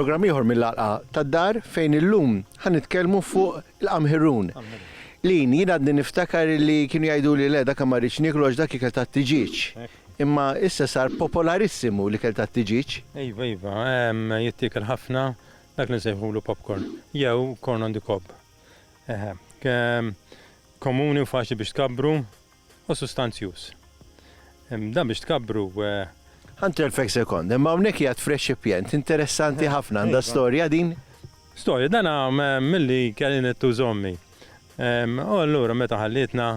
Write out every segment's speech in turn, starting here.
Programm ieħor mill-għalqa tad-dar fejn illum ħan nitkellmu fuq il-qamħirun. Lin, jien għadni niftakar li kienu jgħidu li le dak ma rridx niklu għax dak ikel tat-tiġiġ. Imma issa sar popolarissimu li kel tat-tiġiġ. Iva, iva, jittikel ħafna, Dak li nsejħulu popcorn, jew corn on the cob. Eħe. Komuni u faċli biex tkabbru u sustanzjuż. Dan biex tkabbru. Ħa ntelfek sekond, imma hawnhekk qiegħed f'reċipjent interessanti ħafna, għandha storja din? Storja, dan milli kelli nittuż ommi. U allura meta ħallietna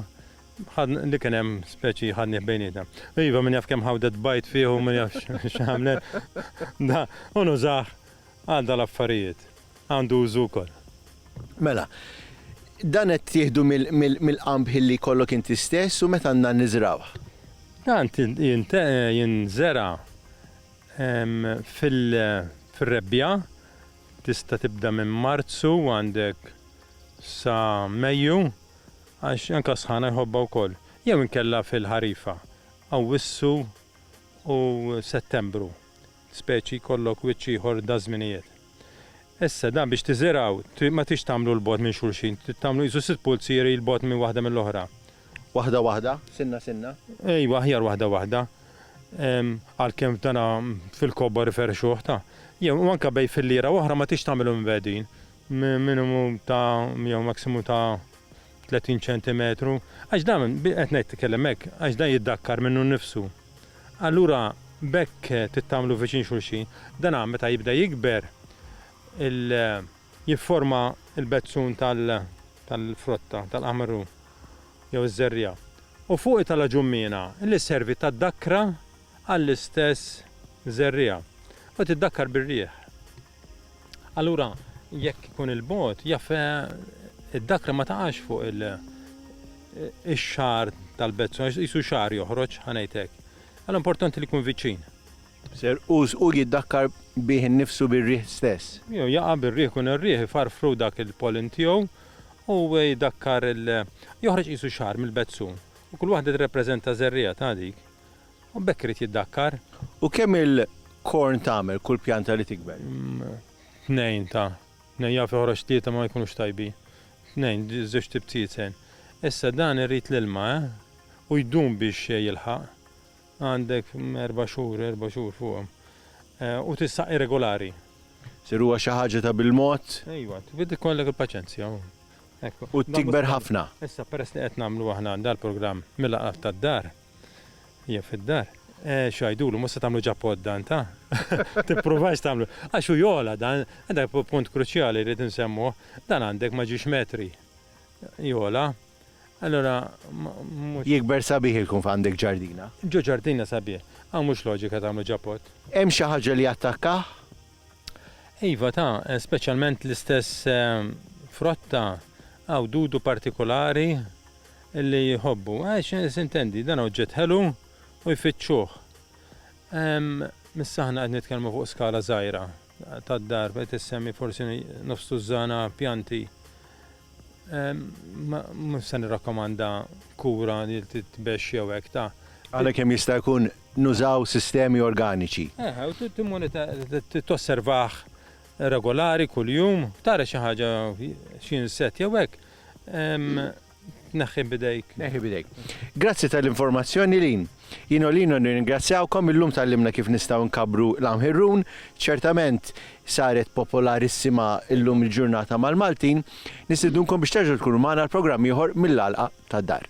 li kien hemm speċi ħadnieh bejnietna. Iva min jaf kemm ħawdet bajt fih u min jaf x'għamlet. Da, u nużah għal dal-affarijiet għandu użu wkoll. Mela, dan qed tieħdu mill-qamħ li jkollok inti stess u meta għandna niżrawh? Dan jinżera' fir-rebbiegħa, tista' tibda minn Marzu u għandek sa Mejju għax anke s-sħana jħobbha wkoll, jew inkella fil-ħarifa, Awwissu u Settembru. speċi jkollok wiċċ ieħor daż-żminijiet. Issa, dan biex tiżergħu, trid ma tridx tagħmlu 'l bogħod minn xulxin, trid tagħmlu qisu sitt pulzieri 'l bogħod minn waħda mill-oħra. Waħda waħda? Sinna sinna? Ejwa, aħjar waħda waħda. Għalkemm f'dana fil-kobor iferrxuh ta'. Jew, u anke bejn filliera u oħra ma tridx tagħmilhom imbehdin. Minimu ta' jew maksimu ta' 30 ċentimetru. Għax dan, qed ngħid tkellem hekk, għax dan jiddakkar minnu nnifsu. Allura b'hekk titgħammlu viċin xulxin. Dana meta jibda jikber il jifforma l-bezzun tal tal-frotta, tal-qamru jew iż-żerriegħa. U fuq itala' ġummiena li sservi ta' dakkra għall-istess żerriegħa u tiddakkar bir-riħ. Allura, jekk ikun il-bogħod, jaf id-dakra ma taqax fuq il- ix-xagħar tal-bezzu, għax qisu xagħar joħroġ, ħa ngħid hekk. Allura importanti li jkun viċin. Ser, u hu jiddakkar bih innifsu bir-riħ stess. Jew jaqa' bir-riħ, ikun ir-riħ ifarfru dak il-pollen tiegħu u jdakkar il-, joħroġ qisu xagħar mill-bezzu. U kull waħda tirrappreżenta żerriegħa ta' dik. U b'hekk irid jiddakkar. U kemm il, korn tagħmel kull pjanta li tikber? Hm, tnejn ta. Tnejn jaf joħroġ tlieta ma jkunux tajbin. Tnejn, żewġ tibtietzen. Issa dan irid l-ilma, eh? U jdum biex jilħaq. Għandek erba' xhur, erba' xhur fuqhom. Eh, u tissaqqi regolari. Sir huwa xi ħaġa ta' bil-mod? Ejwa, trid ikollek il-paċenzja. U tikber ħafna. Issa peress li qed nagħmlu aħna dal-programm mill-aqrab tad-dar, Jien fid-dar, Eh, x'għidulu, mhux se tagħmlu ġappot dan, ta? Tippruvax tagħmlu. Għax hu jogħla dan, dak punt kruċjali rrid insemmuh, dan għandek ma ġiex metri. Jogħla. Allura mhux. Jikber sabiħ il-kun f'għandek ġardina. Ġo ġardina sabiħ. Hawn mhux loġika tagħmlu ġappot. Hemm xi ħaġa li attakkah? Iva ta, speċjalment l-istess frott ta, għawdudu partikolari li jħobbu. Għax eh, sintendi, dan oġġett ħelu u jfittxuh. Missa ħna qed nitkellmu fuq skala żgħira tad-dar qed issemmi forsi nofs tużżana pjanti Mhux se nirrakkomanda kura li titbexx jew hekk ta'. Għalhekk kemm jista' jkun nużaw sistemi organiċi. Eħe, u timmonitorah, tosservah regolari kuljum, tara xi ħaġa, xi insett jew hekk, tneħħih b'idejk. Tneħħih b'idejk. Grazzi tal-informazzjoni Lynn. Jien u Lino nirringrazzjawkom, illum tgħallimna kif nistgħu nkabbru l-għam Hirrun, ċertament saret popolarissima llum il-ġurnata mal-Maltin, nistiednunkom biex terġgħu tkunu magħna għal programm ieħor mill-għalqa tad-dar.